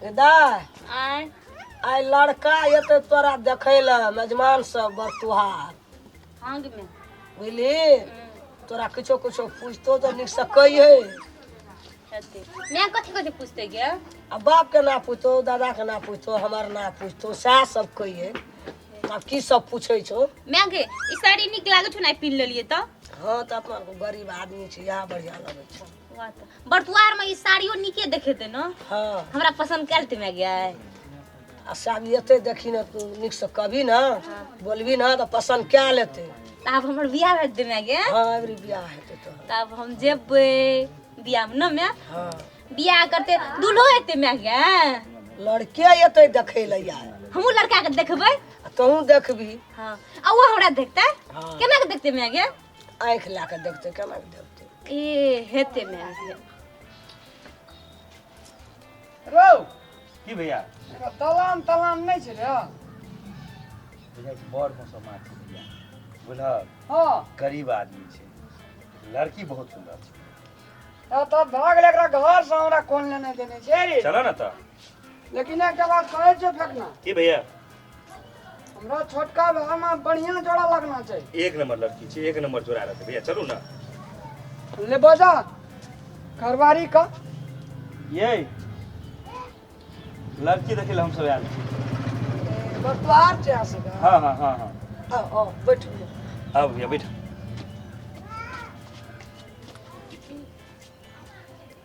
आय आय लड़का एते तोरा देखे ल मेजमान सब बड़ तुहार हंग में बुझली तोरा किछो किछो पूछतो तो निक से कहिए हेते मैं कथि कथि पूछते गे आ बाप के ना पूछतो दादा के ना पूछतो हमार ना पूछतो सएह सब कहिए आ की सब पूछे छो मैं गे ई साड़ी निक लागै छौ ना पीन लेलिए त हाँ तो अपना गरीब आदमी छी यहाँ बढ़िया लगे छो बर्तुआर में ई साड़ियो नीके देखेते न हाँ हमरा पसंद कैल ते में गया है आ साड़ी एते देखी ना तू निक से कभी ना बोलबी ना तो पसंद क्या लेते तब हमर बियाह भेज दे में गया हाँ अबरी ब्याह हेते तो तब हम जेबे बियाह में न में हाँ बियाह करते दूल्हो एते में गया लड़के एते देखे ले आए हमहू लड़का के देखबै आ तहूँ देखबी हाँ आ वो हमरा देखते हाँ। केना के देखते में गया आँखि लए कऽ देखतै केना कऽ देखतै ए हेते ने रौ की भैया एकर दलान तलान नहि छै रे बुझै छी बड़ मौसम मार छै भैया बुझल हँ गरीब आदमी छै लड़की बहुत सुन्दर छै आ तब भऽ गेलै एकरा घर से हमरा कोन लेने देने छै रे चलऽ ने तऽ लेकिन एकटा बात कहै छियौ फेकना की भैया हमरा छोटका भाई में बढ़िया जोड़ा लगना चाहिए एक नंबर लड़की छै एक नंबर जोड़ा रहतै भैया चलू ना ले बजा घरवारी का ये लड़की देखै लए हम सब आयल छी बतवार छै यहाँ से का? हाँ हाँ हाँ हाँ आ, आ, बैठ भैया। आउ भैया बैठ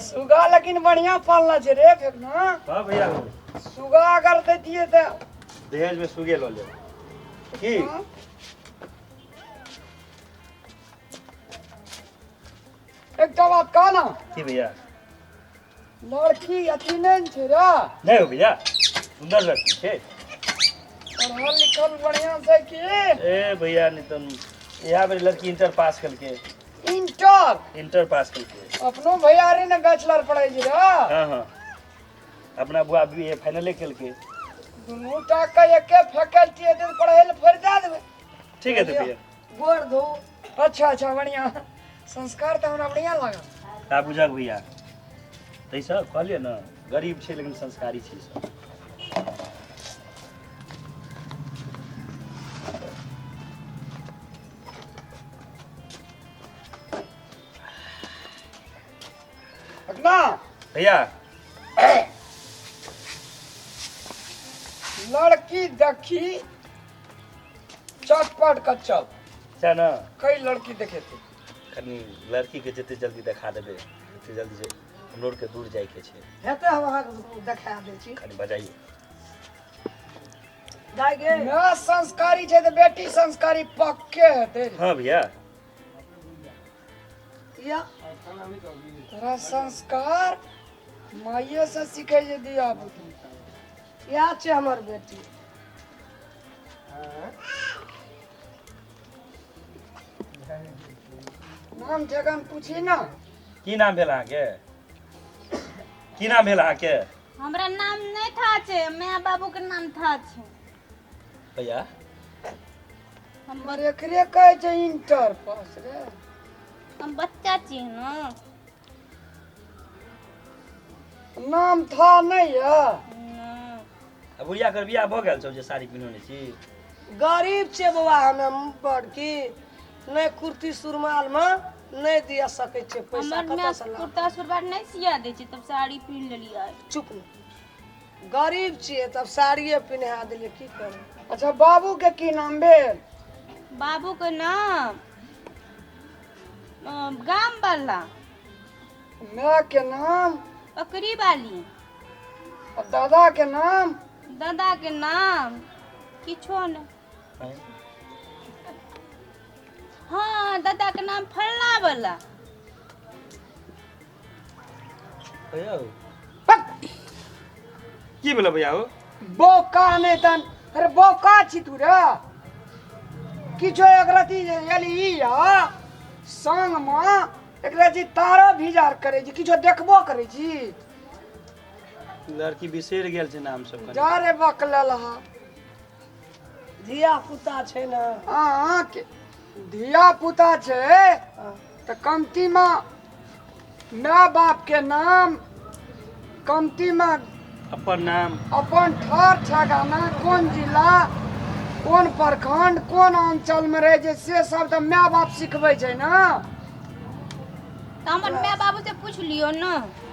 सुगा लेकिन बढ़िया पालना छै रे फेकना हां भैया सुगा अगर दे दिए त दहेज में सुगे लो ले की हाँ। एक तो बात कह ना की भैया लड़की अथी नहीं छे रे नहीं हो भैया सुंदर लड़की छे पढ़ल लिखल बढ़िया से की ए भैया नितन यहाँ पर लड़की इंटर पास करके इंटर इंटर पास कर के अपनो भैया रे ने बैचलर पढ़ै छी रे हाँ हाँ अपना बुआ बी ए फाइनले कल के दुनू टा के एके फैकल्टी हेतै तऽ पढ़ै लए फोड़ दए देबै ठीक है तो भैया गोड़ धो अच्छा अच्छा बढ़िया संस्कार तऽ हमरा बढ़िया लागल ता बुझक भैया तै सब कहलिए ना गरीब छै लेकिन संस्कारी छै सब पटना भैया लड़की देखी चटपट का चल छै ने कई लड़की देखे थे कनि लड़कीके जतेक जल्दी देखा देबै ओतेक जल्दी जे हमरो आरके दूर जाइके छै हेतै हम अहाँके देखा दै छी कनि बजाइए माँ संस्कारी छै तऽ बेटी संस्कारी पक्के हेतै हाँ भैया या तोरा संस्कार माइये से सीखे जे दिया पुती या छै हमर बेटी नाम जगन पूछी ना की नाम भेल अहाँके की नाम भेल अहाँके हमरा नाम नहि था छै माय बाबू के नाम था छै भैया हमर एकरे कहै छै इंटर पास रे हम बच्चा छी ना नाम था नहीं है अब बुढ़िया कर बियाह भऽ गेल छौ जे साड़ी पिन्हने छी गरीब छै बौआ हमे बड़की नहि कुर्ती सुरमालमे नहि दिअ सकै छियै पैसा हमर माय कतऽसँ लाउ कुर्ता सुरबार नहि सिया दै छै तब साड़ी पहिन लेलियै चुप ने गरीब छियै तब साड़िए पिन्हा देलियै की करबै अच्छा बाबू के की नाम भेल बाबू के नाम अ, गाम वाला माय के नाम पकड़ी वाली आ दादा के नाम दादा के नाम किछो ने आँय? हँ दादा के नाम फल्ला वाला कहिया हो? की भेल भैया हो बोका नै तन अरे बोका छी तू रे किछो एक रति एली ई या संग म एक रति तारा भिजार करै छी किछो देखबो करै छी लड़की बिसरि गेल छै नाम सब कनि। जा रे बकलल हा धिया पुता छै ने हाँ के- धिया पुता छै हाँ। तऽ कमती मे माय बाप के नाम कमती मे अपन नाम अपन ठर ठेगाना कोन जिला कोन प्रखंड कोन अंचल में रहे छै से सब तऽ माय बाप सिखबै छै ने तऽ हमर माय बाबू से पूछ लियो ने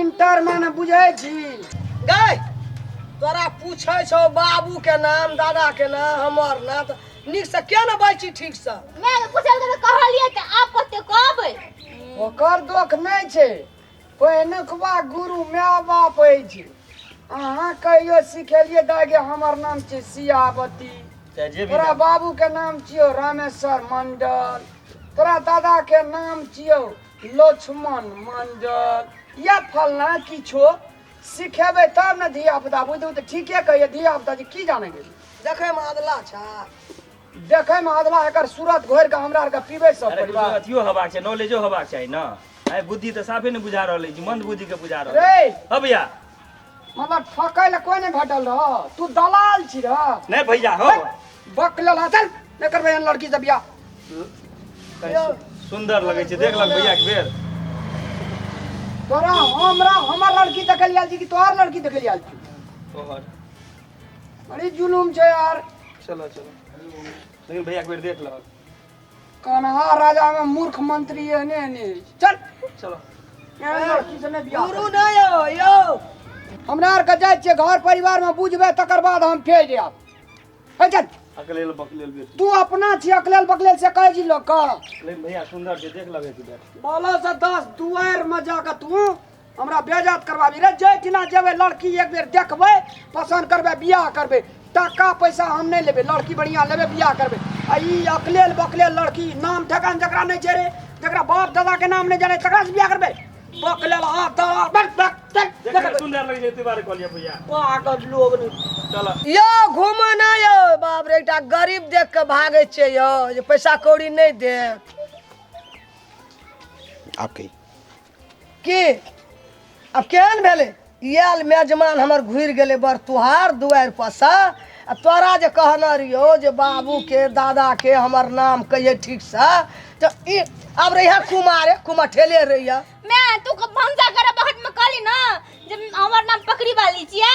इंटर माने बुझै छी गै तोरा पूछै छौ बाबू के नाम दादा के नाम हमर नाम त नीक से किया ने बाजि छी ठीक से मैं तो पूछल के कहलिए कि आप कते कहबै ओकर दोख नहि छै पहिनुकवा गुरु माय बाप अछि अहाँ कहियो सिखेलिए दागे हमर नाम छै सियावती चाहे जे भी तोरा नाम। बाबू के नाम छियौ रामेश्वर मंडल तोरा दादा के नाम छियौ लक्ष्मण मंडल या फलना किछो सिखेबै तब ने धिया पुता बुझू तऽ ठीके कहिए धिया पुता जे की जानै गेली देखै में अदला छा देखै में अदला एकर सूरत घोरि कऽ हमरा आरके पीबै सब अरे कुछ परिवार अथियो हेबाक छै नॉलेजो हेबाक चाही ने आइ बुद्धि तऽ साफे ने बुझा रहल अछि मंद बुद्धि के बुझा रहल अछि। रे अब या हमर ठकै लए कोइ नहि भेटल रह तू दलाल छी रह नहि भैया हो बक लला चल नहि करबै एहन लड़की से बियाह सुंदर लगे छै देख लग भैया के बेर तोरा हमरा हमर लड़की देखल आयल छी कि तोहर लड़की देखल आयल छी तोहर बड़ी जुलूम छै यार चलो चलो लेकिन भैया के बेर देख लग कन्हा राजा में मूर्ख मंत्री है ने ने चल चलो किसी ने बियाह गुरु ना यो यो हमरा आर के जाय छियै घर परिवार में बुझबे तकर बाद हम फेर जायब हे चल अकलेल बकलेल बेटी तू अपना छी अकलेल बकलेल से कहे छी लोग का लेकिन भैया सुंदर छै देख लगे छै बेटी बोलो से दस दुआर में जाके तू हमरा बेजात करबाबी रे जे किना जेबै लड़की एक बेर देखबै पसन्द करबै बियाह करबै टाका पैसा हम नहि लेबै लड़की बढ़िया लेबै बियाह करबै आ ई अकलेल बकलेल लड़की नाम ठेकान जकरा नहि छै रे जकरा बाप दादा के नाम नहि जाने तकरा से बियाह करबै बकलेल हाथ दादा बक बक बक, देखे बक। सुंदर लगे छै तिवारी कहलिए भैया पागल लोग रे चल यो घूमऽ ना यो बाप रे एकटा गरीब देख के भागे छै यो जे पैसा कौड़ी नहीं दे आप कही के अब केहन भेलै आयल मेजमान हमर घुरि गेलै बड़ तुहार दुआरि परसँ आ तोरा जे कहने रहियौ जे बाबूके दादाके हमर नाम कहियै ठीकसँ तऽ ई आब रहिया कुमारे कुमठेले रहिया मैं तू को भंसा करे बहट में कहली ना जे हमर नाम पकड़ी वाली छिए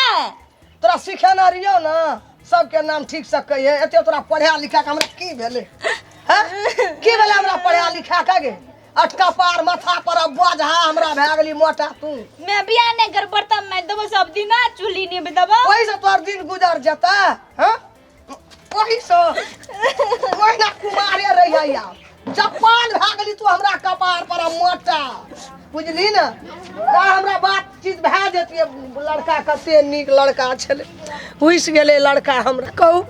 तोरा सिखेने रहियौ ने सबके नाम ठीकसँ कहियै एते तोरा पढ़ा लिखा कऽ हमरा की भेलै हँ की भेलै हमरा पढ़ा लिखा कऽ गे आ कपार माथा पर अब बोझा हमरा भए गेली मोटा तू मैं भी आने घर पर तब मैं तो सब दिन ना चूल्ही नहीं बतावा वही से तोर दिन गुजर जाता हां वही से वही ना कुमारे रह जाइया जपान भए गेली तू हमरा कपार पर मोटा बुझली ना हमरा बात चीज भए जतियै लड़का कते नीक लड़का छलै घुसि गेलै लड़का हमरा कहू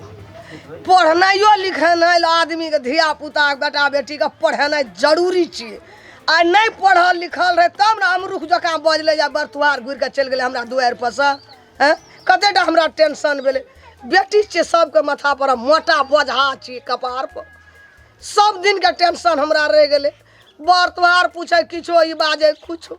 पढ़नाइयो लिखेनाइ लए आदमीके धिया पुता बेटा बेटीके पढ़ेनाइ जरूरी छियै आ नहि पढ़ल लिखल रहै तब ने अमरुख जकाँ बजलै या बरतुहार घुरि कऽ चलि गेलै हमरा दुआरि पर से एँ? कते टा हमरा टेंशन भेलै बेटी छियै सबके माथा पर हम मोटा बोझा छियै कपार पर सब दिनके टेंशन हमरा रहि गेलै बर तोहार पूछे किछो ई बाजे किछो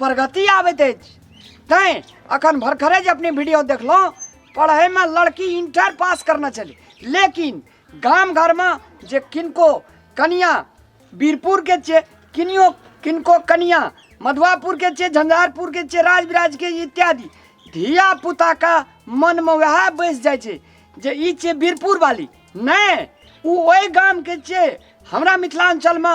प्रगति आबैत अछि तैं अखन भरखरे जे अपने वीडियो देखलहुँ पढ़ैमे लड़की इंटर पास करना चली लेकिन गाम घरमे जे किनको कनिया बीरपुरके छियै किनियो किनको कनिया मधुआपुरके छियै झंझारपुरके छियै राजविराजके इत्यादि धिया पुताके मनमे वएह बैस जाइ छै जे ई छियै बीरपुर वाली नहि ओ ओहि गामके छियै हमरा मिथिलाञ्चलमे